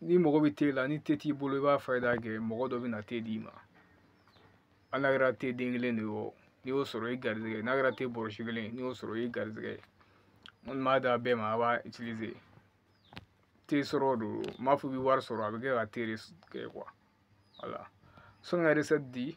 ni mɔgɔ bɛ te la ni te t'i bolo i b'a fayida kɛ mɔgɔ dɔ bɛna te d'i ma hali n'a kɛra te den kelen de ye o n'i y'o sɔrɔ i garizigɛ ye n'a kɛra te bɔrɔsi kelen ye n'i y'o sɔrɔ i garizigɛ ye n kɔni b'a d'a bɛɛ ma a b'a itilize te sɔrɔ don n m'a fɔ i bɛ wari sɔrɔ a bɛ kɛ ka te de kɛ kuwa wala sɔni ka resɛti di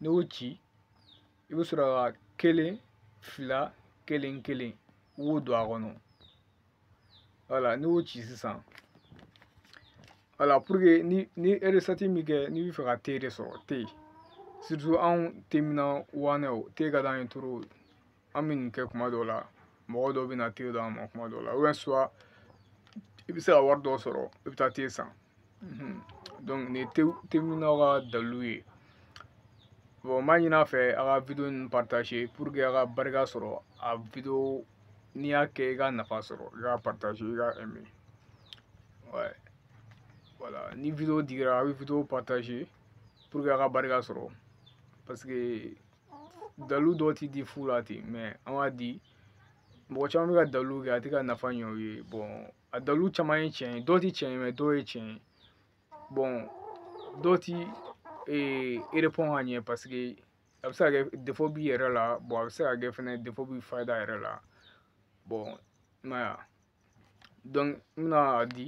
n'i y'o ci i bɛ sɔrɔ ka kelen fila kelen kelen i b'o don a kɔnɔ wala n'i y'o ci sisan wala puruke n'i ye resɛti min kɛ n'i bɛ fɛ ka te de sɔrɔ te surutu anw teminna waanɛw te ka d'an ye toro an bɛ nin kɛ kuma dɔw la mɔgɔ dɔw bɛ na te d'an ma kuma dɔw la ou soit i bɛ se ka wari dɔw sɔrɔ i bɛ taa te san donc nin ye teminnaw ka dalilu ye bon n b'a ɲini a fɛ a ka video ninnu partage pour que a ka barika sɔrɔ a video n'i y'a kɛ i ka nafa sɔrɔ i ka partage i ka aimer ouais voilà ni video digira a bɛ video partage pour que a ka barika sɔrɔ parce que dalilu dɔw ti di fu la ten mɛ an b'a di mɔgɔ caman bɛ ka dalilu kɛ a tɛ ka nafa ɲɛ u ye bɔn a dalilu caman ye tiɲɛ ye dɔw ti tiɲɛ ye mɛ dɔw ye tiɲɛ ye bɔn dɔw ti ee erepɔn ka ɲɛ paseke a bɛ se ka kɛ defo b'i yɛrɛ la bɔn a bɛ se ka kɛ fɛnɛ defo bi fayida yɛrɛ la bɔn i m'a ye n bɛna a di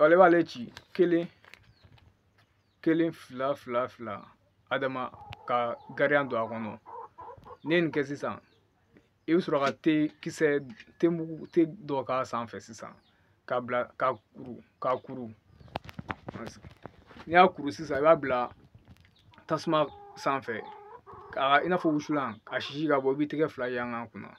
ale b'ale ci kelen kelen fila fila fila adama ka gariya don a kɔnɔ n'i ye nin kɛ sisan i bɛ sɔrɔ ka te kisɛ te mugu te dɔ k'a sanfɛ sisan k'a bila k'a kuru n'i y'a kuru sisan i b'a bila tasuma sanfɛ ka i n'a fɔ wusulan ka sisi ka bɔ i b'i tɛgɛ fila yanga kunna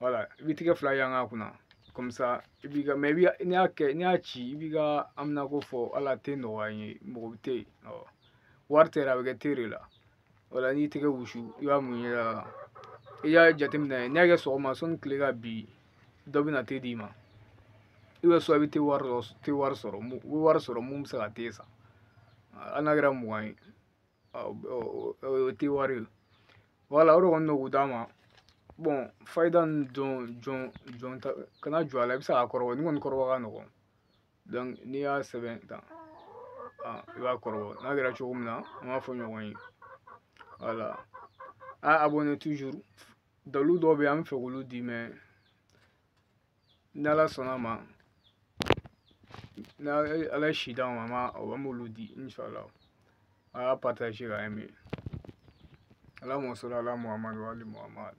wala i b'i tɛgɛ fila yanga kunna kɔmisa i b'i ka mɛ i b'i n'i y'a kɛ n'i y'a ci i b'i ka haminako fɔ ala te nɔgɔya n ye mɔgɔ bɛ tɛ yen awɔ wari tɛ yɛrɛ a bɛ kɛ te de la wala n'i tɛgɛ wusu i b'a mun i yɛrɛ la i y'a jateminɛ n'i y'a kɛ sɔgɔma sɔnni tile ka bin dɔ bɛna te d'i ma i bɛ sɔrɔ i bɛ te wari dɔ te wari sɔrɔ u bɛ wari sɔrɔ mun bɛ se ka te san hali n'a kɛra mugan ye o tɛ wari ye wala o de kɔni don k'u d'a ma bɔn fayida nin jɔn kana jɔ a la i bɛ se k'a kɔrɔbɔ nin kɔni kɔrɔbɔ ka nɔgɔn donc n'i y'a sɛbɛn tan i b'a kɔrɔbɔ n'a kɛra cogo min na an b'a fɔ ɲɔgɔn ye wala a abonné toujours dalu dɔw bɛ yen an bɛ fɛ k'olu di mɛ n'ala sɔnna a ma n'ala ye si d'an ma an b'olu di inshallah a y'a partage ka aimer allahumma salli ala muhamadu wa ali muhamadu